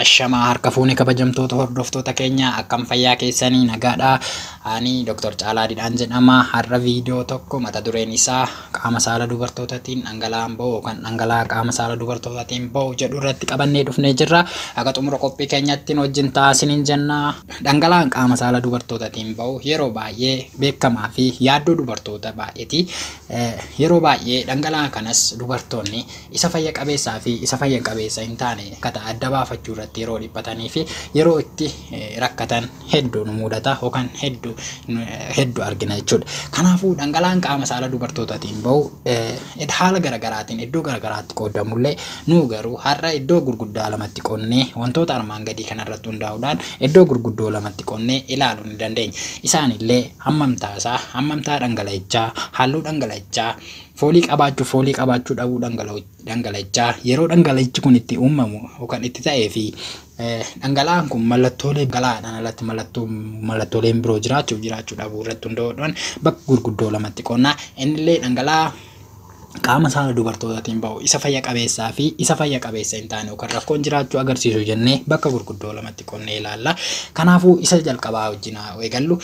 Ashamaa harka fuune kabajamtoota hordoftoota keenya akkam fayyaa keessanii nagaadha. Ani Dr. Caalaa Didhaan jedhama. Har'a viidiyoo tokko mata dureen isaa qaama saala dubartootaatiin dhangala'aan ba'u yookaan dhangala'aa qaama saala dubartootaatiin ba'u jedhu irratti qabannee dhufnee jirra. Akka xumura qophii keenyattiin wajjin ta'a isiniin jenna. Dhangala'aan qaama saala dubartootaatiin ba'u yeroo baay'ee beekamaa fi yaaddoo dubartoota baay'eeti. Yeroo baay'ee dhangala'aa kanas dubartoonni isa fayya qabeessaa fi isa fayya qabeessa hin taane ka ta'e adda baafachuu irratti yeroo dhiphatanii fi yeroo itti rakkatan hedduu nu mudata yookaan hedduu hedduu argina jechuudha. Kanaafuu dhangala'aan qaama saala dubartootaatiin bahu haala garagaraatiin iddoo garagaraatti qoodamullee nuu garuu har'a iddoo gurguddaa lamatti qonnee wantoota armaan gadii kanarratti hundaa'uudhaan iddoo gurguddoo lamatti qonnee ilaaluu ni dandeenya. Isaanillee hammamtaa isaa, hammamtaa dhangala'ichaa, halluu dhangala'ichaa, Foolii qabaachuu Foolii qabaachuu dhabuu dhangala'ichaa yeroo dhangala'ichi kun itti uumamu yookaan itti ta'ee fi dhangala'aan kun mallattoolee dhangala'aadhaan alatti mallattoo mallattooleen biroo jiraachuuf jiraachuu dhabuu irratti hundaa'uudhaan bakka gurguddoo lamatti qonnaa innillee dhangala'aa qaama saala dubartootaatiin ba'u isa fayya qabeessaa fi isa fayya qabeessa hin taane yookaan rakkoon jiraachuu agarsiisu jennee bakka gurguddoo lamatti qonnee ilaalla. Kanaafuu isa jalqabaa wajjin haa eegallu.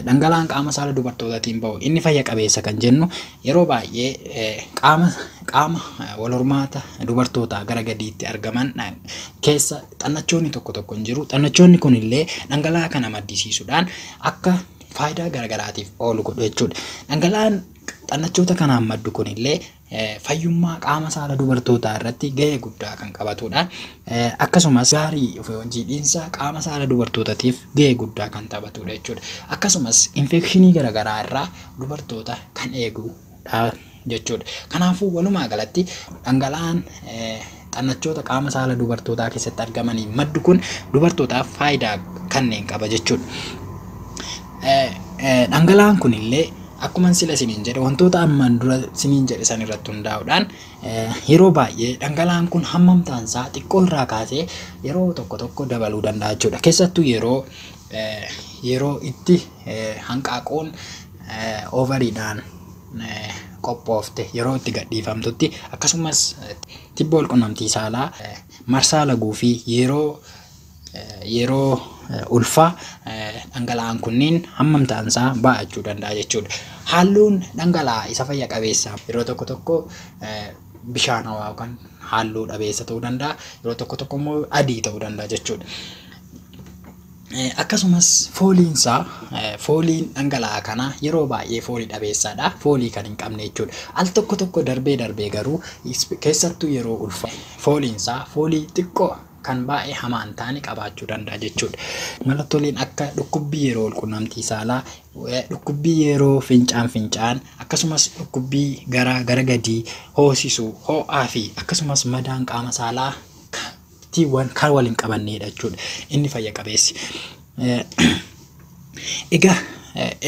Dhangala'aan qaama saala dubartootatiin ba'u inni fayya qabeessa kan jennu yeroo baay'ee qaama qaama walhormaata dubartootaa gara gadiitti argaman keessa xannachoonni tokko tokko hin jiru. Xannachoonni kun illee dhangala'aa kana maddisiisuudhaan akka faayidaa garagaraatiif oolu godhu jechuudha. Dhangala'aan xannachoota kanaan maddu kun illee fayyummaa qaama saala dubartootaa irratti gahee guddaa kan qabatudha. Akkasumas gaarii jiidhinsa qaama saala dubartootatiif gahee guddaa kan taphatudha jechuudha. Akkasumas infekshinii garaagaraa irraa dubartoota kan eegudha jechuudha. Kanaafuu walumaa galatti dhangala'aan xannachoota qaama saala dubartootaa keessatti argamaniin maddu kun dubartootaaf faayidaa kanneen qaba jechuudha. Dhangala'aan kun illee akkuma sila siniin jedhe wantoota ammaan dura siniin jedhe san irratti hundaa'uudhaan yeroo baay'ee dhangala'aan kun hammamtaan isaa xiqqoo irraa kaasee yeroo tokko tokko dabaluu danda'a jechuudha. Keessattuu yeroo yeroo itti hanqaaquun ovariidhaan qophoofte yeroo itti gadhiifamtutti akkasumas tibba walqunnamtii saalaa marsaa laguu fi yeroo yeroo ulfaa dhangala'aan kunniin hammam ta'ansaa baay'achuu danda'a jechuudha. Halluun dhangala'aa isa fayya qabeessaa yeroo tokko tokko bishaanawaa yookaan halluu dhabeessa ta'uu danda'a yeroo tokko tokko immoo adii ta'uu danda'a jechuudha. Akkasumas fooliin isaa fooliin dhangala'aa kanaa yeroo baay'ee foolii dhabeessaadha. Foolii kan hin qabne jechuudha. Al tokko tokko darbee darbee garuu keessattuu yeroo ulfaa fooliin isaa foolii xiqqoo kan baay'ee hamaa hin taane qabaachuu danda'a jechuudha. Mallattooleen akka dhukkubbii yeroo walqunnamtii saalaa, dhukkubbii yeroo fincaan fincaan akkasumas dhukkubbii garaa gara gadii hoosisuu, ho'aa fi akkasumas madaan qaama saalaa tti waan kan wal hin qabanneedha jechuudha. Inni fayya qabeessi. Egaa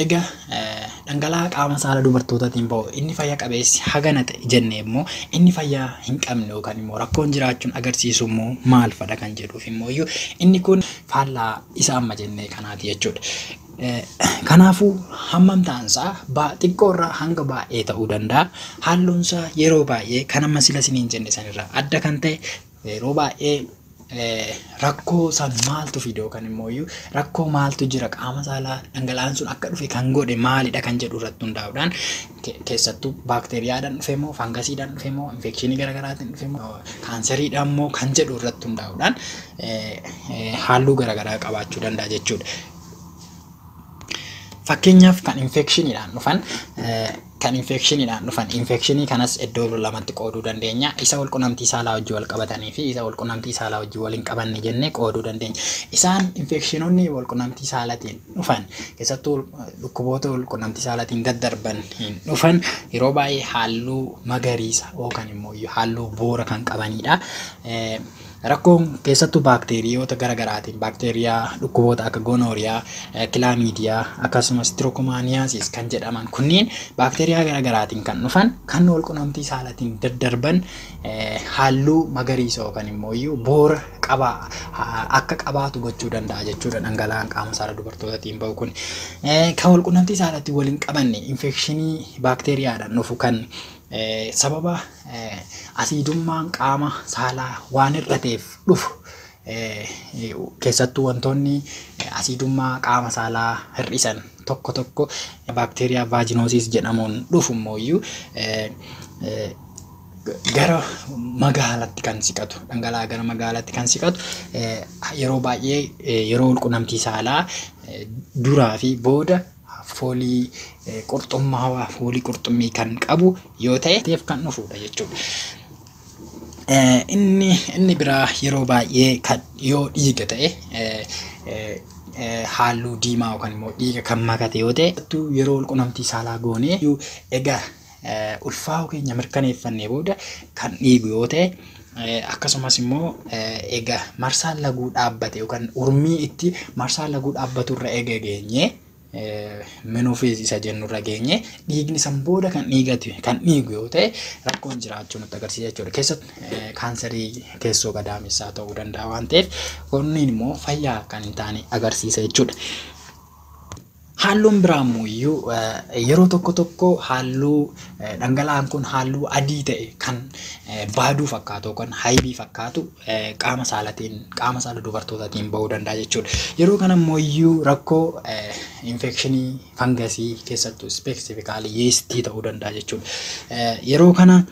egaa dhangala'aa qaama saala dubartootaatiin ba'u inni fayya qabeessi hagana ta'e jennee immoo inni fayyaa hin qabne yookaan immoo rakkoon jiraachuun agarsiisu immoo maal fadha kan jedhuuf immoo iyyuu inni kun faallaa isa amma jennee kanaati jechuudha. Kanaafuu hammam ta'ansaa baa xiqqoo irraa hanga baay'ee ta'uu danda'a. Halluunsaa yeroo baay'ee kan amma sila isiniin jenne sanirraa adda kan ta'e Yeroo baay'ee rakkoo san maaltu fide yookaan immoo iyyuu rakkoo maaltu jira qaama saalaa dhangala'aan sun akka dhufe kan godhe maalidha kan jedhu irratti hundaa'uudhaan ke- keessattuu baakteeriyaadhaan dhufe moo faangasiidhaan dhufe moo infekshinii garaagaraatiin dhufe moo kaanseriidhaan moo kan jedhu irratti hundaa'uudhaan eh, eh, halluu garaagaraa qabaachuu danda'a jechuudha. Fakkeenyaaf kan infekshiniidhaan dhufan eh, Kan infeekshiniidhaan dhufan. Infeekshinii kanas iddoo lamatti qooduu dandeenya. Isa walqunamtii saalaa wajjin walqabatanii fi isa walqunamtii saalaa wajjin wal hin qabanne jennee qooduu dandeenya. Isaan infeekshinoonni walqunamtii saalatiin dhufan keessattuu dhukkuboota walqunamtii saalatiin gad darban hin dhufan yeroo baay'ee halluu magariisa yookaan immoo halluu boora kan qabaniidha. Rakkoon keessattuu baakteeriyoota gara garaatiin baakteeriyaa dhukkuboota akka gonooriyaa, kilaamiidiyaa akkasumas tirookomaaniyaasiis kan jedhaman kunniin baakteeriyaa gara garaatiin kan dhufan kan walqunnamtii saalatiin daddarban halluu magariisa yookaan immoo iyyuu boora qabaa akka qabaatu gochuu danda'a jechuudha dhangala'aan qaama saala dubartootatiin ba'u kun. Kan walqunnamtii saalatti waliin qabanne infekshinii baakteeriyaadhaan dhufu kan Sababa asiidummaan qaama saalaa waan hir'ateef dhufu keessattuu wantoonni asiidummaa qaama saalaa hir'isan tokko tokko baakteeriyaa vaajinoosiis jedhamuun dhufu immoo iyyuu gara magaalatti kan siqatu dhangala'aa gara magaalatti kan siqatu yeroo baay'ee yeroo walqunnamtii saalaa duraa fi booda foolii qurxummaawaa, foolii qurxummii kan qabu yoo ta'e teef kan dhufuudha jechuudha. Inni inni biraa yeroo baay'ee kan yoo dhiiga ta'e halluu diimaa yookaan immoo dhiiga kan makate yoo ta'e yeroo qunnamtii saalaa goonee egaa ulfaa'uu keenya mirkaneeffannee booda kan dhiigu yoo ta'e akkasumas immoo egaa marsaan laguu dhaabbate yookaan urmii itti marsaan laguu dhaabbatu irra eega geenye minuufiis isa jennu irra geenye dhiigni san booda kan dhiigatu kan dhiigu yoo ta'e rakkoon jiraachuu nutti agarsiisa jechuudha. Keessatti kaansarii keessoo gadaamessaa ta'uu danda'a waan ta'eef kunniin immoo fayyaa kan hin taane agarsiisa jechuudha. Haalluun biraa immoo iyyuu yeroo tokko tokko haalluu dhangala'aan kun haalluu adii ta'e kan baaduu fakkaatu yookaan haybii fakkaatu qaama saalatiin qaama saala dubartootatiin ba'uu danda'a jechuudha. Yeroo kana immoo iyyuu rakkoo infekshinii fangasii keessattuu ispeesifikaalii yeestii ta'uu danda'a jechuudha. Yeroo kana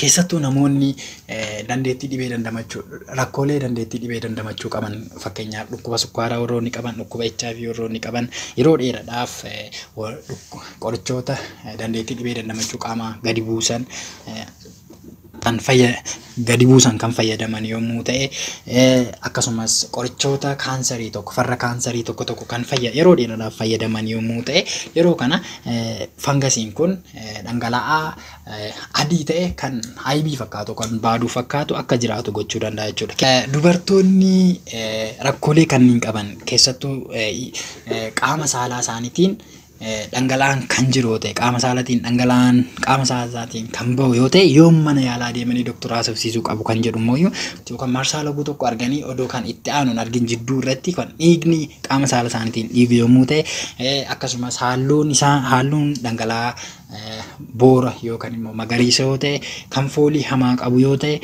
Keessattuu namoonni dandeettii dhibee dandamachuu rakkoolee dandeettii dhibee dandamachuu qaban fakkeenyaaf dhukkuba sukkaaraa warroonni qaban dhukkuba HIV warroonni qaban yeroo dheeraadhaaf qorichoota dandeettii dhibee dandamachuu qaamaa gadi buusan kan fayya gadi buusan kan fayyadaman yommuu ta'e akkasumas qorichoota kaansarii tokko farra kaansarii tokko tokko kan fayya yeroo dheeraadhaaf fayyadaman yommuu ta'e yeroo kana fangasiin kun dhangala'aa adii ta'e kan haybii fakkaatu kan baaduu fakkaatu akka jiraatu gochuu danda'a jechuudha. Dubartoonni rakkoolee kanneen qaban keessattuu qaama saalaa isaaniitiin dhangala'aan kan jiru yoo ta'e qaama saalaatiin dhangala'aan qaama saalaatiin kan bahu yoo ta'e yoom mana yaalaa deemanii doktora haasofsiisuu qabu kan jedhu immoo yookaan marsaa laguu tokko arganii odoo kan itti aanuun argin jidduu irratti kan dhiigni qaama saala isaaniitiin dhiigu yommuu ta'e akkasumas haalluun isaa haalluun dhangala'aa boora yookaan immoo magariisa yoo ta'e kan foolii hamaa qabu yoo ta'e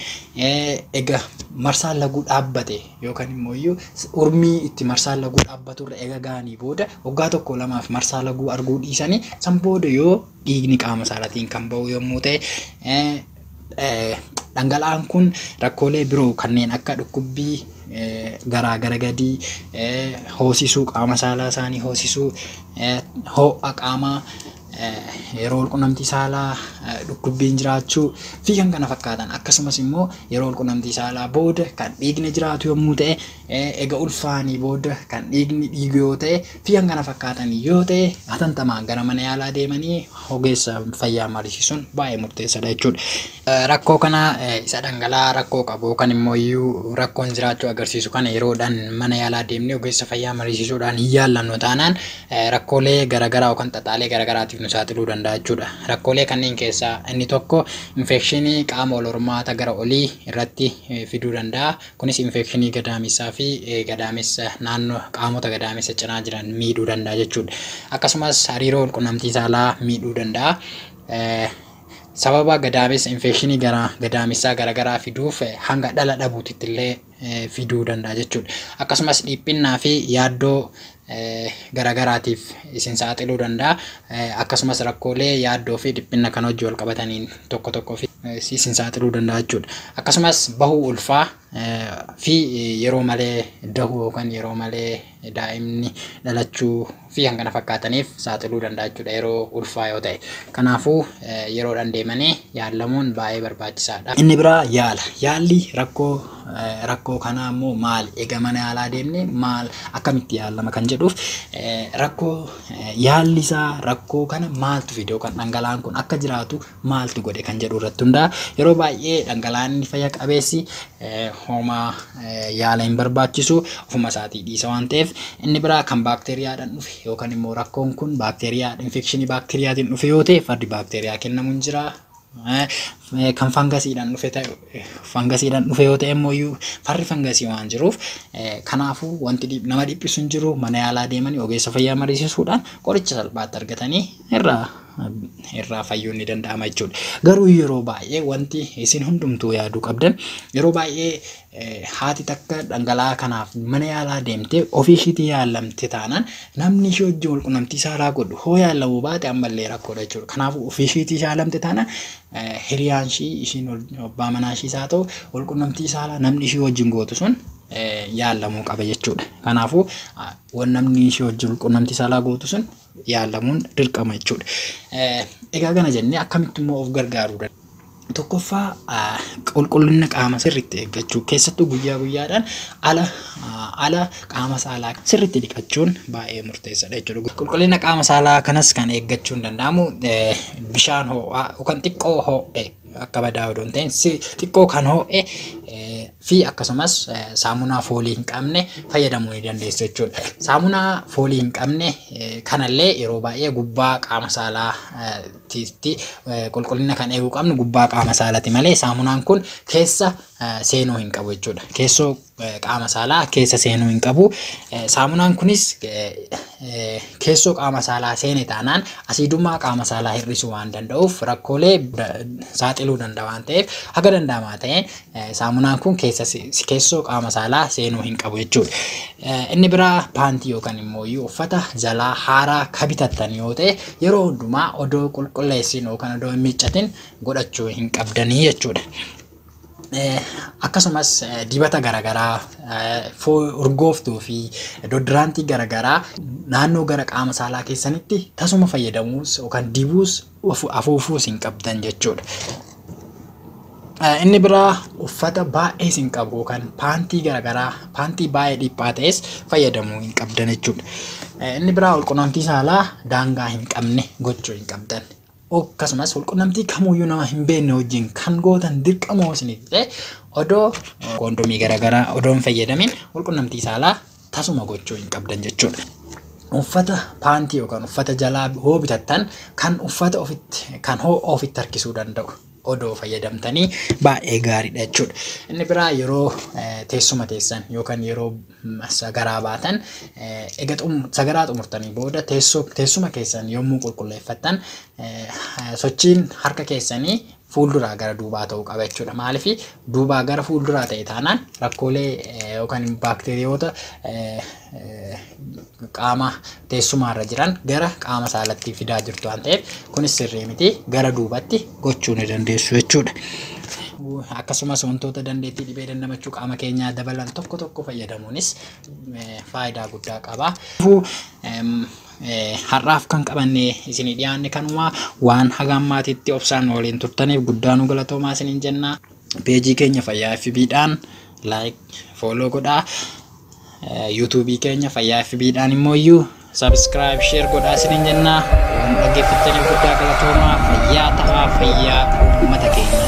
egaa marsaan laguu dhaabbate yookaan immoo iyyuu urmii itti marsaan laguu dhaabbatu irra egaa ga'anii booda waggaa tokko lamaaf marsaa laguu arguu dhiisanii san booda yoo dhiigni qaama isaarratiin kan ba'u yommuu ta'e dhangala'aan kun rakkoolee biroo kanneen akka dhukkubbii garaa gara gadii hoosisuu qaama saalaa isaanii hoosisuu ho'a qaamaa yeroo walqunnamtii saalaa dhukkubbiin jiraachuu fi kan kana fakkaatan akkasumas immoo yeroo walqunnamtii saalaa booda kan dhiigni jiraatu yommuu ta'e ega ulfaanii booda kan dhiigni dhiigu yoo ta'e fi kan kana fakkaatan yoo ta'e hatantamaan gara mana yaalaa deemanii ogeessa fayyaa mariisisuun baay'ee murteessaadha jechuudha. Rakkoo kana isa dhangala'aa rakkoo qabu yookaan immoo iyyuu rakkoon jiraachuu agarsiisu kana yeroodhaan mana yaalaa deemnee ogeessa fayyaa mariisisuudhaan hin yaallannu taanaan rakkoolee garagaraa yookaan xaxaalee garagaraatiif nu saaxiluu danda'a jechuudha. Rakkoolee kanneen keessaa inni tokko infeekshinii qaama wal hormaata gara olii irratti fiduu danda'a. Kunis infeekshinii gadaamessaa fi gadaamessa naannoo qaamota gadaamessa cinaa jiran miidhuu danda'a jechuudha. Akkasumas hariiroo walqunnamtii saalaa miidhuu danda'a. Sababa gadaamessa infeekshinii gara gadaamessaa garagaraa fiduuf hanga dhala dhabuutitti illee fiduu danda'a jechuudha. Akkasumas dhiphinnaa fi yaaddoo garagaraatiif isin saaxiluu danda'a. Akkasumas rakkoolee yaaddoo fi dhiphinna kan hojii wal qabataniin tokko tokko fi isin saaxiluu danda'a jechuudha. Akkasumas bahuu ulfaa fi yeroo malee dahuu yookaan yeroo malee daa'imni dhalachuu fi kan kana fakkaataniif saaxiluu danda'a jechuudha yeroo ulfaa yoo ta'e. Kanaafuu yeroodhaan deemanii yaallamuun baay'ee barbaachisaadha. Inni biraa yaala. Yaalli rakkoo rakkoo kanaa immoo maal egaa mana yaalaa deemne maal akkamitti yaallama kan jedhuuf rakkoo yaalli isaa rakkoo kana maaltu fidoo kan dhangala'aan kun akka jiraatu maaltu godhe kan jedhu irratti hundaa'a. Yeroo baay'ee dhangala'aanni fayya qabeessi hooma yaala hin barbaachisu ofuma isaatii dhiisa waan ta'eef inni biraa kan baakteeriyaadhaan dhufe yookaan immoo rakkoon kun baakteeriyaa infekshinii baakteeriyaatiin dhufe yoo ta'e fardi baakteeriyaa kennamu hin jira. Kan fangasiidhaan dhufe ta'e fangasiidhaan dhufe yoo ta'e immoo iyyuu farri fangasii waan jiruuf kanaafuu wanti nama dhiphisu hin jiru mana yaalaa deemanii ogeessa fayyaa mariisisuudhaan qoricha salphaatti argatanii irraa irraa fayyuun ni danda'ama jechuudha. Garuu yeroo baay'ee wanti isin hundumtuu yaaduu qabdan yeroo baay'ee eh, haati takka dhangala'aa kanaaf mana yaalaa deemtee ofii ishiitii yaalamte taanaan namni ishii wajjin wal qunnamtii saalaa godhu hoo yaalamuu baate ammallee rakkoodha jechuudha. Kanaafuu ofii ishiitii yaalamte taanaan eh, hiriyaan ishii ishiin ol- abbaa manaa ishiis haa ta'u wal qunnamtii saalaa namni ishii wajjin gootu sun eh, yaalamuu qaba jechuudha. Kanaafuu ah, wan namni ishii wajjin wal qunnamtii saalaa gootu sun yaalamuun dirqama jechuudha. Egaa kana jennee akkamitti immoo of gargaaruu danda'a? Tokkoffaa qulqullina qaama sirriitti eeggachuu keessattuu guyyaa guyyaadhaan ala ala qaama saalaa sirriitti dhiqachuun baay'ee murteessaadha jechuudha. Qulqullina qaama saalaa kanas kan eeggachuun danda'amu bishaan ho'aa yookaan xiqqoo ho'e akka badaa odoo hin ta'in xiqqoo kan ho'e fi akkasumas saamunaa foolii hin qabne fayyadamuu ni dandeessu jechuudha. Saamunaa foolii hin qabne kanallee yeroo baay'ee gubbaa qaama saalaa tiitti qulqullina kan eeguu qabnu gubbaa qaama saalati malee saamunaan kun keessa seenuu hin qabu jechuudha. Keessoo qaama saalaa keessa seenuu hin qabu. Saamunaan kunis keessoo qaama saalaa seene taanaan asiidummaa qaama saalaa hir'isuu waan danda'uuf rakkoolee saaxiluu danda'a waan ta'eef haga danda'amaa ta'een Saamunaan kun keessa keessoo qaama saalaa seenuu hin qabu jechuudha. Inni biraa paantii yookaan immoo uffata jalaa haaraa ka bitattan yoo ta'e yeroo hundumaa odoo qulqulleessin yookaan odoo hin miiccatin godhachuu hin qabdanii jechuudha. Akkasumas dibata garaagaraa urgooftuu fi dodiraantii garaagaraa naannoo gara qaama saalaa keessanitti tasuma fayyadamuus yookaan dibuus afuufuus hin qabdan jechuudha. Inni biraa uffata baay'ee isin qabu yookaan paantii garaagaraa paantii baay'ee dhiphaa ta'es fayyadamuu hin qabdan jechuudha. Inni biraa walqunnamtii saalaa daangaa hin qabne gochuu hin qabdan. Akkasumas walqunnamtii kamuyyuu nama hin beekne wajjin kan gootan dirqamoo isiniif ta'e odoo koondomii garaagaraa odoo hin fayyadamin walqunnamtii saalaa tasuma gochuu hin qabdan jechuudha. Uffata paantii yookaan uffata jalaa hoo bitattan kan uffata ofitti kan hoo ofitti harkisuu danda'u odoo fayyadamtanii baay'ee gaariidha jechuudha. Inni biraa yeroo eh, teessuma teessan yookaan yeroo mm, sagaraa baatan eh, ega xum- sagaraa xumurtanii booda teessoo- teessuma keessan yommuu qulqulleeffattan eh, sochiin harka keessanii fuulduraa gara duubaa ta'uu qaba jechuudha. Maaliif duubaa gara fuulduraa ta'e taanaan rakkoolee yookaan baakteeriyoota qaama teessumaarra jiran gara qaama saalatti fidaa jirtu waan ta'eef kunis sirrii miti gara duubatti gochuu ni dandeessu jechuudha. Akkasumas wantoota dandeettii dhibee dandamachuu qaama keenyaa dabalan tokko tokko fayyadamuunis faayidaa guddaa qaba. Har'aaf kan qabannee isinii dhiyaanne kanumaa waan haga ammaatitti obsaan nu waliin turtaniif guddaa nu galatoomaa isiniin jenna. Peejii keenya fayyaa FB dhaan like follow godhaa. Yuutuubii keenya fayyaa FB dhaan immoo iyyuu subscribe share godhaa isiniin jenna. Waan dhaggeeffattaniif guddaa galatoomaa fayyaa ta'aa fayyaa uummata keenya.